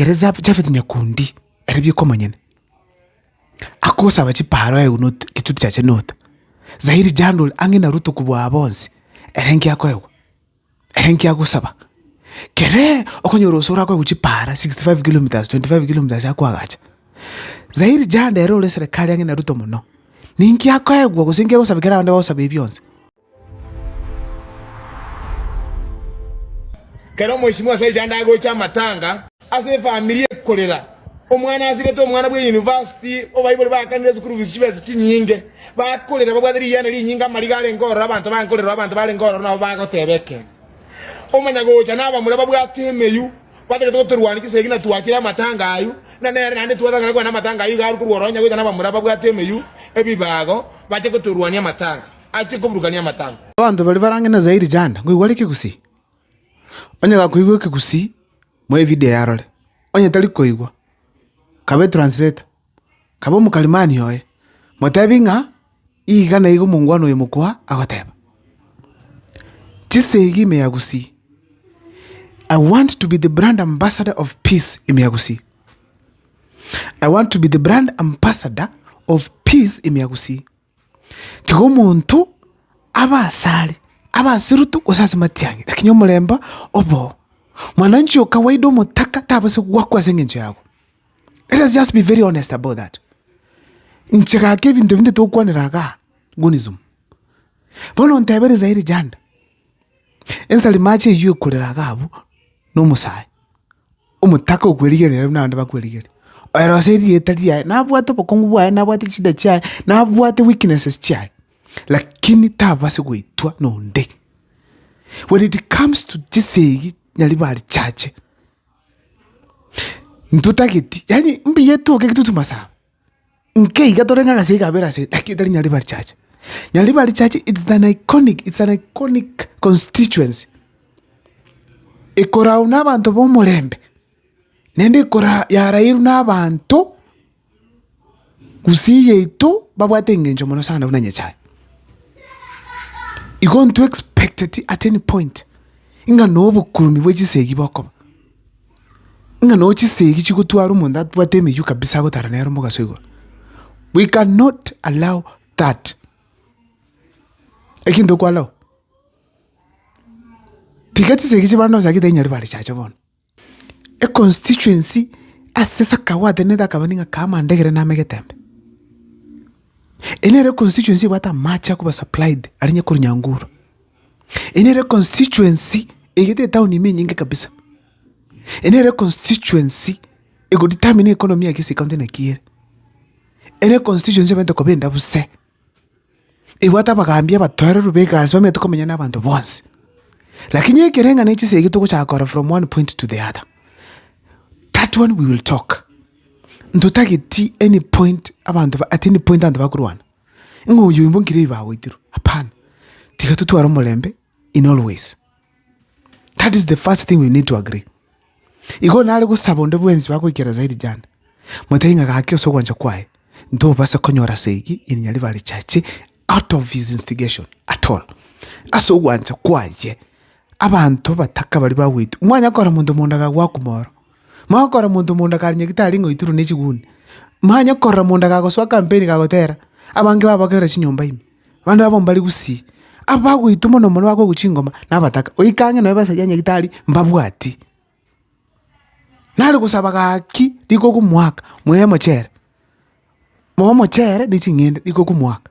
kere Jaf- jafeti nyakundi ere bieka omonyene akosaba chiparo aye not rituti chiaye not zairi jandol ang'e na ruto kobua bonsi ere inki akoegwa ere inki agosaba keree okonyora gose orakoegwa chipara 65 kilometres 25 kilometres akoagacha zairi jando ere ore serekari ang'e na ruto mono ninki akoegwa gose inki agosaba ekero abanto bagosaba ebi bionsi Kera omwesimwa ase rituko ndagocha amatanga ase efamiri ekorera. Omwana asirete omwana bwe university obaibori bakanire school fees chibesa chinyinge bakorera babwate riyana rinyinge amariga arenge ororo abanto bankorerwa abanto barenge ororo nabo bagoteba ekero. Omanya gocha na abamura babwate emeyu batagete gotorwania chisegi na twachire amatanga ayio na nere naende twatangana kwana amatanga ayio iga arukorwa ororo onye gocha na abamura babwate emeyu ebibago bache gotorwania amatanga. achie koburukania amatango. Abanto baria barange na Zaire Janda, ngoigwa are kegusii. Onye gakoigwa ekegusii, moe evideo eye arore. Onye tari koigwa, kabe etransleta, kabe omokalimani oye, motebi ng'a iga na iga omongwana oyo mokwa agoteba. Chise iga ime ya gusii. I want to be the brand ambassador of peace ime ya gusii. I want to be the brand ambassador of peace ime ya gusii. Tiga omonto abe asare, abe aseruto, gose ase matiang'e, lakini omorembe oboo. Mwananchi o kawaida omotaka tabase goakwa ase engencho yago. Let us just be very honest about that. Inche gaka ebinto ebinto tokwanera iga gunism. Bono ontebere nsa ere janda, ensari mache eywo ekorera iga abwo, na omosae. Omotaka okwerigereria buna abande bakwerigereria. Oyorose erieta riaye, nabwate obokongu bwaye, nabwate chida chiaye, nabwate weaknesses chiaye, lakini tababasi goitwa nonde. When it comes to chisegi, nyaribari chache, ntotageti, yaani mbuya etoke eke totwe masabo. Nkeiga tore ng'a egasi ekabera ase like etari Nyaribari church. Nyaribari church it's an iconic, it's an iconic constituency, ekoragwa nabaanto ba omorembe, naende ekora yarairwe na abanto gusii yaito babwate eng'encho mono sana buna nyasae. Igo intwe expecteti at any point, ng'a na obokuuni bwe chisegi bokoba. Ng'a no chisegi chigotwara omonto atwate emeywo kabisa agotara nere omogaso igoro, we can not allow that, eki ntoko allow, tiga chisegi chibande onsi agete inyari bare chacha bono. Econstituency ase sakagwatanete akaba ning'a kaa Mandegere name Getembe, ere nere econstituency ebwate amache akoba supplied aria nyakorwa Nyanguru. Eye nere constituency egete etaoni ime enyinge kabisa. Eye nere constituency ego determine economy ya gese ekaunti naki ere. Eye nere constituency ebete koba endabuse, ebwate abagaambi abatoereru ba egasi bamenyete komenya na abanto bonsi. Lakini ekereng'ana echi ase ege togochaka korora from one point to the other. That one we will talk. Ntotageti any point abanto ba at any point abanto bakorwana. Ng'a oyio imbo nkire oyo bagoitirwe? Hapana. Tiga totware omorembe in all ways. That is the first thing we need to agree. Igo nare gosaba onde bwensi bagoikera zaidi jane, motebi ng'a gaki ase ogwancha kwaye, ntobase konyora ase egi in Nyaribari Church out of his instigation at all. Ase ogwancha kwaye, abanto bataka baria bagoitwa, mwanyakora monto monda gagwa akumoro. Manye okorora monto monda kare nyagete are ngoitirwe nechiguni, manye okorora monda gagosoa kampeni kagotera, abange babokerwe chinyomba ime, abande babo mbare gusii, abagoitwa mono mono bakoigwa chingoma nabataka, oikange nonya besa ya nyagitari mbabwati. Nare gosaba gaki riko okomoaka, moe mochere, moe mochere ne ching'ende riko okomoaka.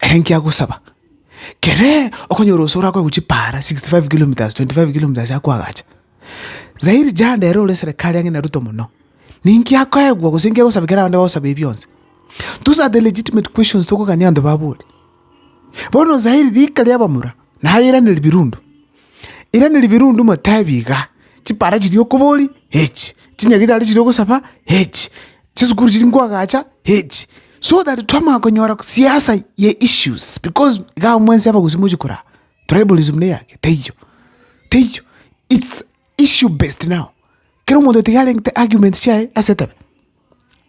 Ere inki agosaba? Kere okonyora oso orakoe gochia para 65 kilometres, 25 kilometres ase akoagacha. Zairi Janda ere ore serekari ang'e na Ruto mono, ninki akoegwa gose inki agosaba ekero abande bagosaba ebi bionsi? Those are the legitimate questions tokogania abanto babore. Bono Zairi rika ria abamura naye eraneri birundu, eraneri birundu motebi iga, chipara chiria okoboria, echi, chinyagitari chiria ogosaba, echi. chisukuru chiri nkoagacha echi so that twamanya konyora siasa ye issues because iga abwo mwensi abagusii mochi koraa tribalism neyake teiyo teiyo it's issue based now kera omonto tiga arengete arguments chiaye ase etebe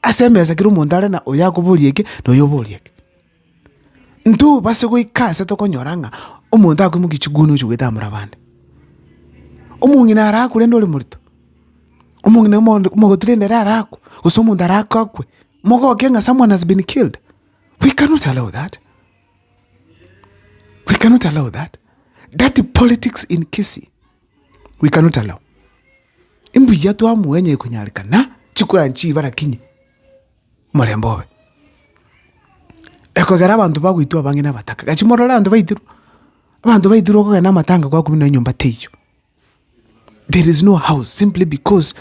ase emesa kera omonto are na oyo akoboria eke na oyo oboria eke. Ntobase goika aase tokonyora ng'a omonto akoimokia chiguni ochia goetamora abande. Omong'ina ara akwe rende ore morito, omong'ina omogondo omogoti rende ere ara akwe, gose omonto ara aka akwe, mogoke ng'a someone has been killed, we cannot allow that, we cannot allow that, dirty politics in Kisii, we cannot allow. Imbuya twamoenya ekonyareka na, chikura nchiba lakini. omorembe obe. Ekogera abanto bagoitwa abange na abataka, gaki morore abanto baitirwe, abanto baitirwe okogenda na amatanga kwakumia nonya enyomba teiyo. There is no house simply because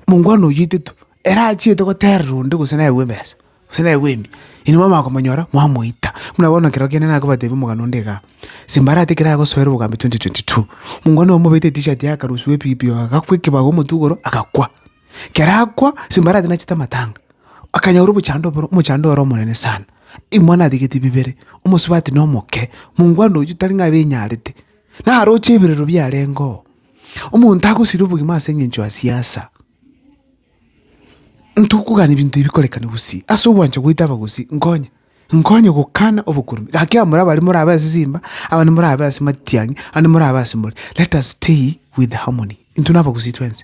mongwana oyio oitetwe, ere achiete goterera onde gose naye aigwe ebesa, gose naye aigwe mbuya, inwe mwamanya komonyora, mwamoita. Buna bono ekero kende nakobatebia omogano onde igaa, simbarati ekero agosoera obogambi twenty twenty two, mongwana oyo omobete etishati yakarusia ebibi oo agakwa ekebago omotwe igoro, agakwa. Ekero akwa, ase mbarato nachete amatanga, akanyora obochando oboro, omochando ore omonene sana. Imwana atigeti bibere, omosubati na omoke, mongwana oyio tari ng'a abenyarete, naroche ebirero biarengeo. Omonto agosira obogima ase eng'encho ya siasa. Ntokogania ebinto ebi bikorekane gosii, ase ogwancha goita abagosii, nkonye, nkonye gokana obokurubi. Gaki abamura bare morabe ase simba, abande morabe ase matiang'i, abande morabe ase more. Let us stay with harmony, intwe na abagusii twensi.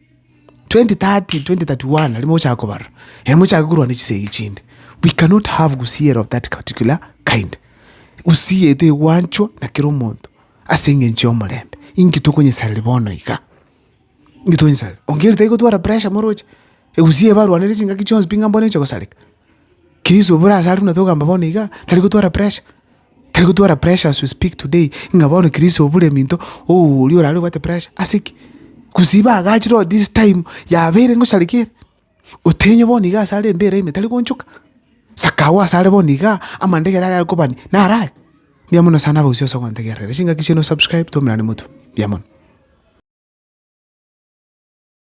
2030, 2031 riria mogochaka kobarora, eh, mochake korwa ne chisegi chinde. We cannot have gusii of that particular kind. Gusii yaito egwanchwa na kera omonto ase eng'encho y'omorembe. Inki tokonyesareria bono iga? Inki tokonyesareria? Onye keri tari gotwara pressure moroche, egusii eye barwaneire chingaki chionsi pi ng'a mbono eche gosareka. Keriso bore asare buna togamba bono iga, tari gotwara pressure. Tari gotwara pressure as we speak today, ng'a bono Chris obure minto, ooh oria orare obwate pressure, ase ki? Gose iba agachire oo this time yabeire ngosarekia ere, otenye bono iga ase are embeera ime tari goonchoka, saka agwo ase are bono igaa, amandegera aria akobani naro aya? Mbuya mono sana abagusii ase ogontegerera, chingaki chiaino subscribe, twaumera nimotwe, mbuya mono.